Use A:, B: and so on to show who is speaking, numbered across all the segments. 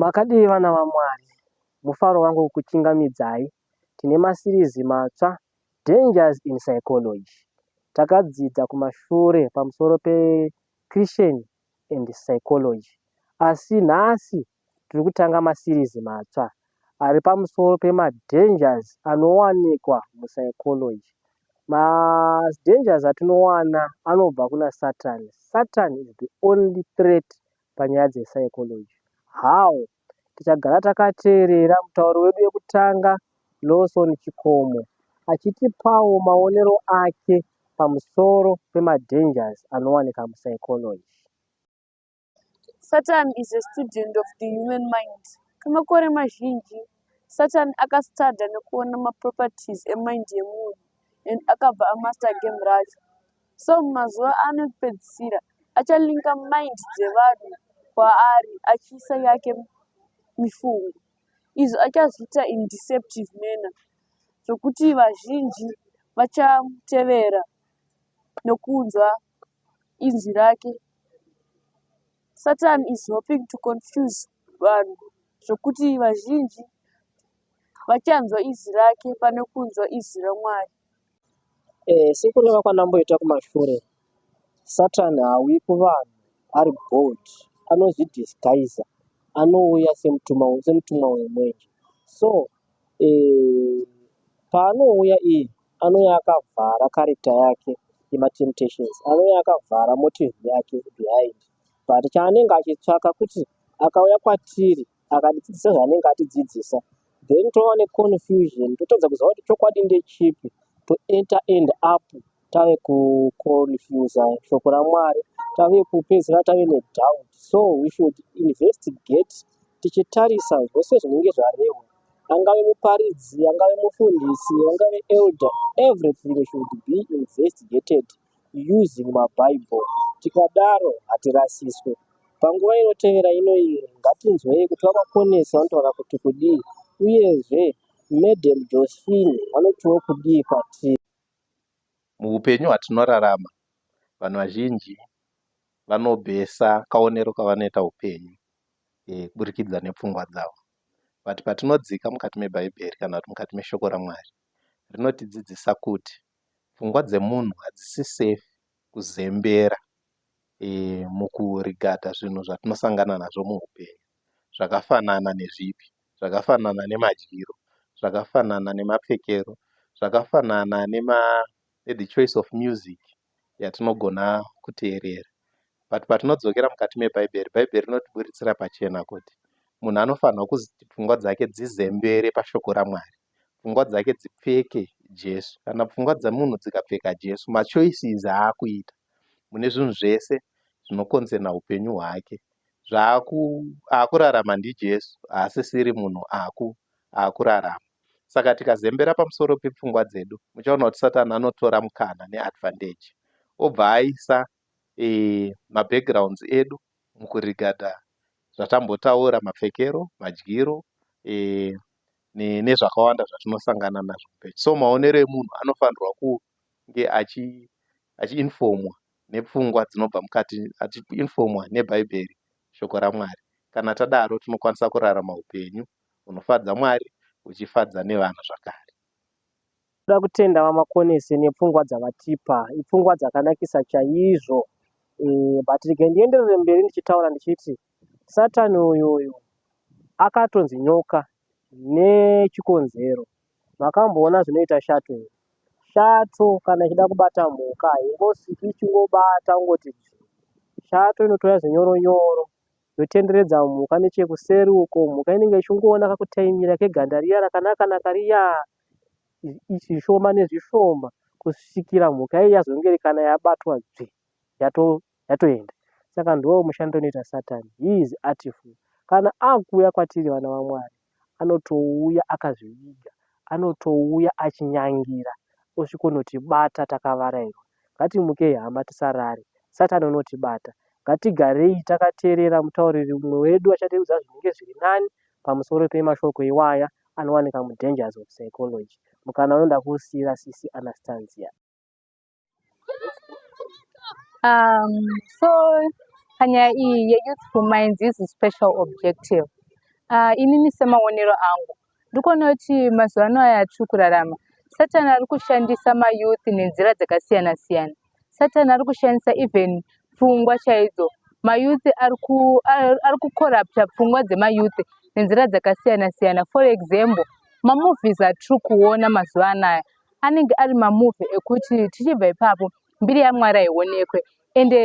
A: Makadii vana vaMwari? Mufaro wangu kukuchingamidzai. Tine masirizi matsva, Dangers in Psychology. Takadzidza kumashure pamusoro peChristian and Psychology asi nhasi tiri kutanga masirizi matsva ari pamusoro pemadangers anowanikwa muPsychology. Madangers atinowana anobva kuna Satan. Satan is the only threat panyaya dze psychology. How? Tichagara takateerera mutauri wedu wekutanga Lawson Chikomo achitipawo maonero ake pamusoro pema dangers anowanika mu psychology.
B: Satan is a student of the human mind. Kwemakore mazhinji, Satan aka studer nekuona ma properties e mind yemunhu and akabva a master game racho. Song mazuva ano ekupedzisira achalinker mind dzevanhu kwaari achiisa yake mifungo izvo achazviita in deceptive manner zvokuti vazhinji vachamutevera nokunzwa inzwi rake. Satan is hoping to confuse vanhu zvokuti vazhinji vachanzwa izwi rake pane kunzwa izwi raMwari. Eh,
A: siku reva kwanamboita kumashure satan hauyi kuvanhu ari bold anozvidisguisa anouya semutumwa semutumwa wemwenje so eh, paanouya iyi anouya akavhara character yake yematemptations anouya akavhara motive yake behind but chaanenge achitsvaka kuti akauya kwatiri akatidzidzisa zvaanenge atidzidzisa then tova neconfusion totadza kuziva kuti chokwadi ndechipi to enter end up tave kuconfusa shoko ramwari tave kupedzisira tave nedoubt so we should investigate tichitarisa zvose zvinenge zvarehwa angave muparidzi angave mufundisi angave elder everything should be investigated using ma bible tikadaro hatirasiswe panguva inotevera inoiri ngatinzwei kuti vamakonesi vanotaura kuti kudii uyezve Madam Josephine vanotiwo kudii kwatiri.
C: Muhupenyu hwatinorarama vanhu vazhinji vanobhesa kaonero kavanoita hupenyu eh, kuburikidza nepfungwa dzavo but patinodzika mukati mebhaibheri kana kuti mukati meshoko ramwari rinotidzidzisa kuti pfungwa dzemunhu hadzisi safe kuzembera mukurigata zvinhu zvatinosangana nazvo muupenyu zvakafanana nezvipi, zvakafanana nemadyiro, zvakafanana nemapfekero, zvakafanana ne choice of music yatinogona kuteerera but patinodzokera mukati mebhaibheri, bhaibheri rinotiburitsira pachena kuti munhu anofanirwa kuti pfungwa dzake dzizembere pashoko raMwari. pfungwa dzake dzipfeke Jesu kana pfungwa dzemunhu dzikapfeka Jesu machoices aakuita mune zvinhu zvese zvinokonzerna hupenyu hwake zvaaku aakurarama ndiJesu haasisiri munhu aku aakurarama saka tikazembera pamusoro pepfungwa dzedu muchaona kuti Satan anotora mukana neadvantage obva aisa e, mabackgrounds edu mukurigada zvatambotaura mapfekero madyiro e, nezvakawanda zvatinosangana nazvo muupenyu. So maonero emunhu anofanirwa kunge achiinifomwa nepfungwa dzinobva mukati, achiinifomwa neBhaibheri, Shoko raMwari. Kana tadaro, tinokwanisa kurarama upenyu hunofadza Mwari huchifadza nevanhu zvakare. Tinoda
A: kutenda VaMakonese nepfungwa dzavatipa. Ipfungwa dzakanakisa chaizvo. Eeh but regai ndienderere mberi ndichitaura ndichiti Satan uyu uyu akatonzi nyoka nechikonzero. Makamboona zvinoita shato here? Shato kana ichida kubata mhuka haingosviki ichingobata kungoti dzvii. Shato inotora zvinyoro nyoro yotenderedza mhuka nechekuseri uko. Mhuka inenge ichingoona kakutaimira keganda riya rakanaka naka riya zvishoma nezvishoma kusvikira mhuka iyi yazongerekana yabatwa dzvi yatoenda saka ndiwo mushando unoita Satan he is artful kana akuuya kwatiri vana vaMwari anotouya akazviviga anotouya achinyangira osvikonotibata takavarairwa Ngatimukei hama tisarare. Satani unotibata. Ngatigarei takateerera mutauriri mumwe wedu achatiudza zvinenge zviri nani pamusoro pemashoko iwaya anowanika mu Dangers of Psychology. Mukana uyu ndakuusiira sisi Anastanzia. Um,
D: so panyaya iyi yeyouthful minds is special objective uh, inini semaonero angu Ndikuona kuti mazuva ano aya atiri kurarama satani ari kushandisa mayouth nenzira dzakasiyana siyana satani ari kushandisa even pfungwa chaidzo mayouth ari kucorrupta pfungwa dzemayouth nenzira dzakasiyana siyana for example mamovies atiri kuona mazuva anaya anenge ari mamovie ekuti tichibva ipapo mbiri yamwari haionekwe ende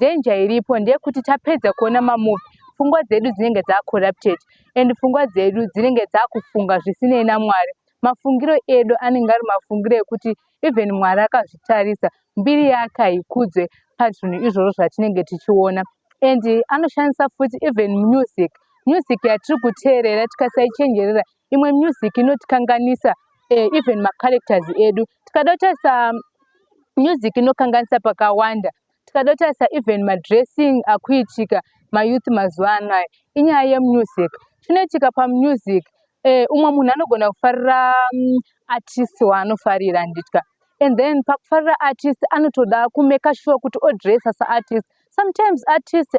D: danger iripo ndeyekuti tapedza kuona mamovie pfungwa dzedu dzinenge dzacorrupted and pfungwa dzedu dzinenge dzakufunga zvisinei namwari mafungiro edu anenge ari mafungiro ekuti even mwari akazvitarisa mbiri yake haikudzwe pazvinhu izvozvo zvatinenge tichiona and anoshandisa futi even music music yatiri kuteerera tikasaichenjerera imwe music inotikanganisa eh, even macharacters edu tikada kutarisa um, music inokanganisa pakawanda tikada kutarisa even madressing akuitika mayouth mazuva ano aya inyaya yemusic chinoitika pamusic eh, umwe munhu anogona kufarira um, artist waanofarira handitya and then pakufarira artist anotoda kumeka sure kuti odressa saartist sometimes artist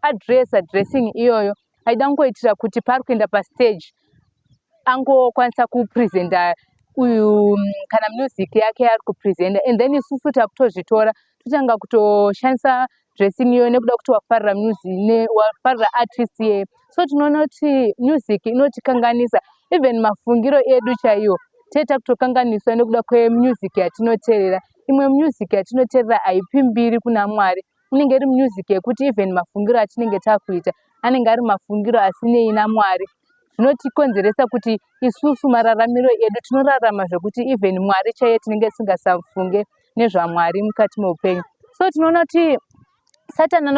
D: adressa dressing iyoyo e aida kungoitira kuti paari kuenda pastage angokwanisa kupresenta uyu mm, kana music yake yaari kupresenta and then isusu takutozvitora totanga kutoshandisa dressing iyoyo nekuda kuti wafarira music wafarira artist iyeyo so tinoona kuti music inotikanganisa even mafungiro edu chaiwo tee takutokanganiswa nekuda kwemusic yatinoteerera imwe music yatinoteerera haipi mbiri kuna mwari inenge iri music yekuti even mafungiro atinenge takuita anenge ari mafungiro asinei namwari zvinotikonzeresa kuti isusu mararamiro edu tinorarama zvekuti even mwari chaiye tinenge tisingasafunge nezvamwari mukati meupenyu so tinoona kuti satani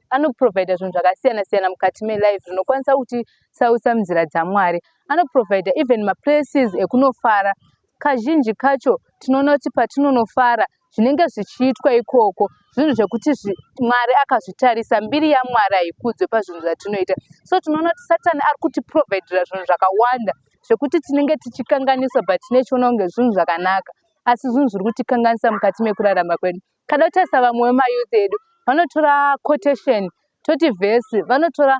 D: anoprovida zvinhu zvakasiyana siyana mukati melife zvinokwanisa kuti sausa munzira dzamwari anoprovida even maplaces ekunofara kazhinji kacho tinoona kuti patinonofara zvinenge zvichiitwa ikoko zvinhu zvekuti mwari akazvitarisa mbiri yamwari haikudzwe pazvinhu zvatinoita so tinoona kuti satani ari kutiprovidira zvinhu zvakawanda zvekuti tinenge tichikanganisa but tinechiona kunge zvinhu zvakanaka asi zvinhu zviri kutikanganisa mukati mekurarama kwedu kada kutarisa vamwe vemayouth edu vanotora quotation toti vhesi vanotora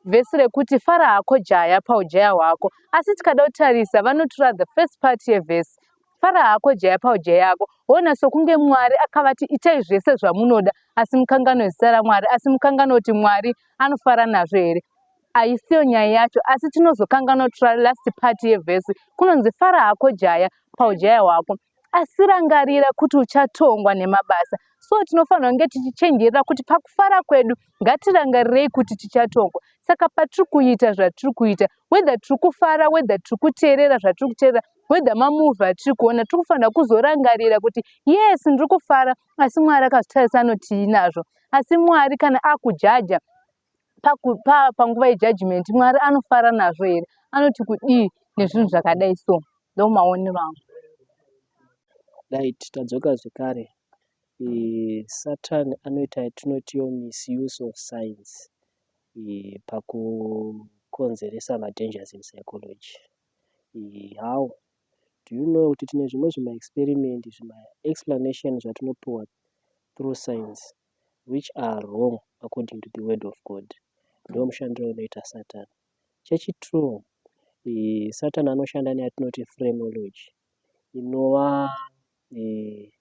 D: vhesi rekuti fara hako jaya paujaya hwako asi tikada kutarisa vanotura the first part yevhesi fara hako jaya paujaya yako hona sokunge mwari akavati itai zvese zvamunoda asi mukangano zita ramwari asi mukangano kuti mwari anofara nazvo here haisiyo nyaya yacho asi tinozokanganotura last part yevhesi kunonzi fara hako jaya paujaya hwako asi rangarira kuti uchatongwa nemabasa so tinofanira kunge tichichenjerera kuti pakufara kwedu ngatirangarirei kuti tichatongwa saka patiri kuita zvatiri kuita wether tiri kufara wether tiri kuteerera zvatiri kuteerera wether mamuvi atiri kuona tiri kufanira kuzorangarira kuti yes ndiri kufara asi mwari akazvitarisa anoti tiinazvo asi mwari kana akujaja panguva yejudgment mwari anofara nazvo here anoti kudii nezvinhu zvakadai so ndo maonero angu
A: right tadzoka zvekare e, satan anoita yatinotio misuse of science e, pakukonzeresa madangers in psychology e, how do you know kuti tine zvimwe zvima experiment zvima explanation zvatinopiwa through science which are wrong according to the word of God ndomushandiro unoita satan chechi true eh, satan anoshanda neyatinoti phrenology inova eh,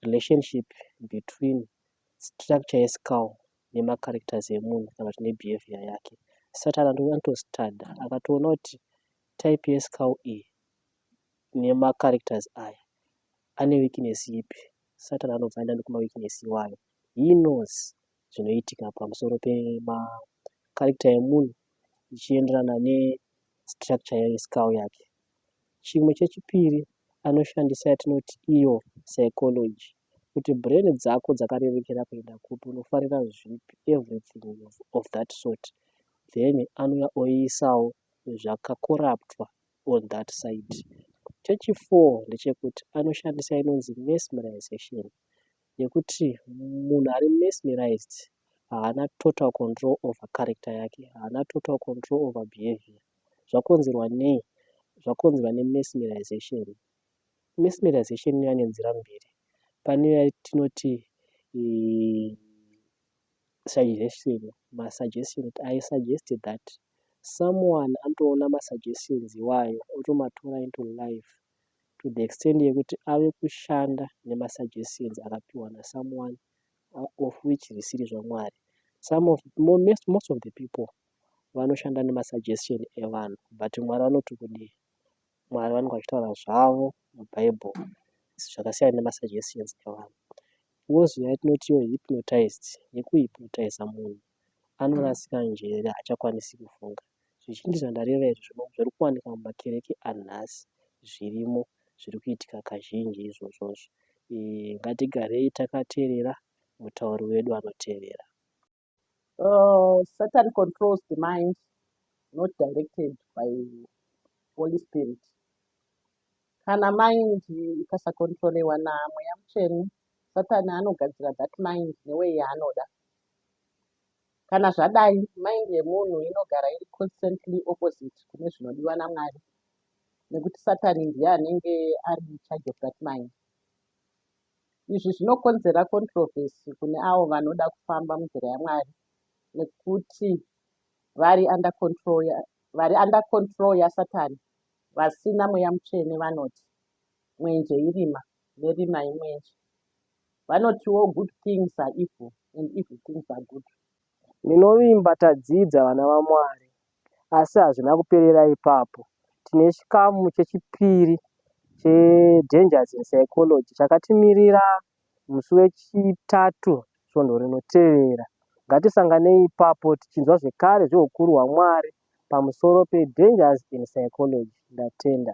A: relationship between structure yescal nemacharacters emunhu kana kuti nebehavior yake satan anotostada akatoona kuti type yescal iyi nemacharacters aya Ane weakness ipi? Satan anobvaenda nekuma weakness iwayo. He knows zvinoitika pamusoro pema character emunhu zvichienderana ne structure ye skull yake. Chimwe chechipiri anoshandisa yatinoti iyo psychology kuti brain dzako dzakarerekera kuenda kupi, unofarira zvipi, everything of that sort. Then anouya oiisawo zvakakoraptwa on that side. Chechi four ndechekuti anoshandisa inonzi mesmerization yekuti munhu ari mesmerized haana total control over character yake, haana total control over behavior. Zvakonzerwa nei? Zvakonzerwa nemesmerization. Mesmerization inouya nenzira mbiri. Pane yatinoti eh, suggestion ma suggestions I suggest that someone anotoona ma suggestions iwayo otomatora into life to the extent yekuti ave kushanda nema suggestions akapiwa na someone of which zvisiri zvaMwari. Some of most of the people vanoshanda nema suggestion evanhu but Mwari vanoti kudii. Mwari vanenge vachitaura zvavo mubhaibheri zvakasiyana nemasajekiseni evanhu. Wozouya yatinoti iyo hipinotaizi yekuhipinotaiza munhu anorasika njere haachakwanisi kufunga. Zvizhinji zvandareva izvi zviri kuwanika mumakereke anhasi zvirimo zviri kuitika kazhinji izvozvozvo. Ngatigarei takateerera mutauri wedu anoteerera. Uh,
E: Satan controls the mind, not directed by Holy Spirit. Kana mind ikasakontrolewa namweya mutsvene, Satan anogadzira that mind neway yaanoda. Kana zvadai, mind yemunhu inogara iri constantly opposite kune zvinodiwa naMwari, nekuti Satan ndiye anenge ari in charge of that mind. Izvi zvinokonzera controversy kune avo vanoda kufamba munzira yaMwari nekuti vari under control ya, vari under control yaSatani vasina mweya mutsvene vanoti mwenje irima nerima imwenje. Vanotiwo good things are evil and evil things are good. Ndinovimba
A: tadzidza vana vaMwari. Asi hazvina kuperera ipapo. Tine chikamu chechipiri che Dangers in Psychology chakatimirira musi weChitatu svondo rinotevera. Ngatisanganei ipapo tichinzwa zvekare zvehukuru hwaMwari pamusoro pe Dangers in Psychology. Ndatenda.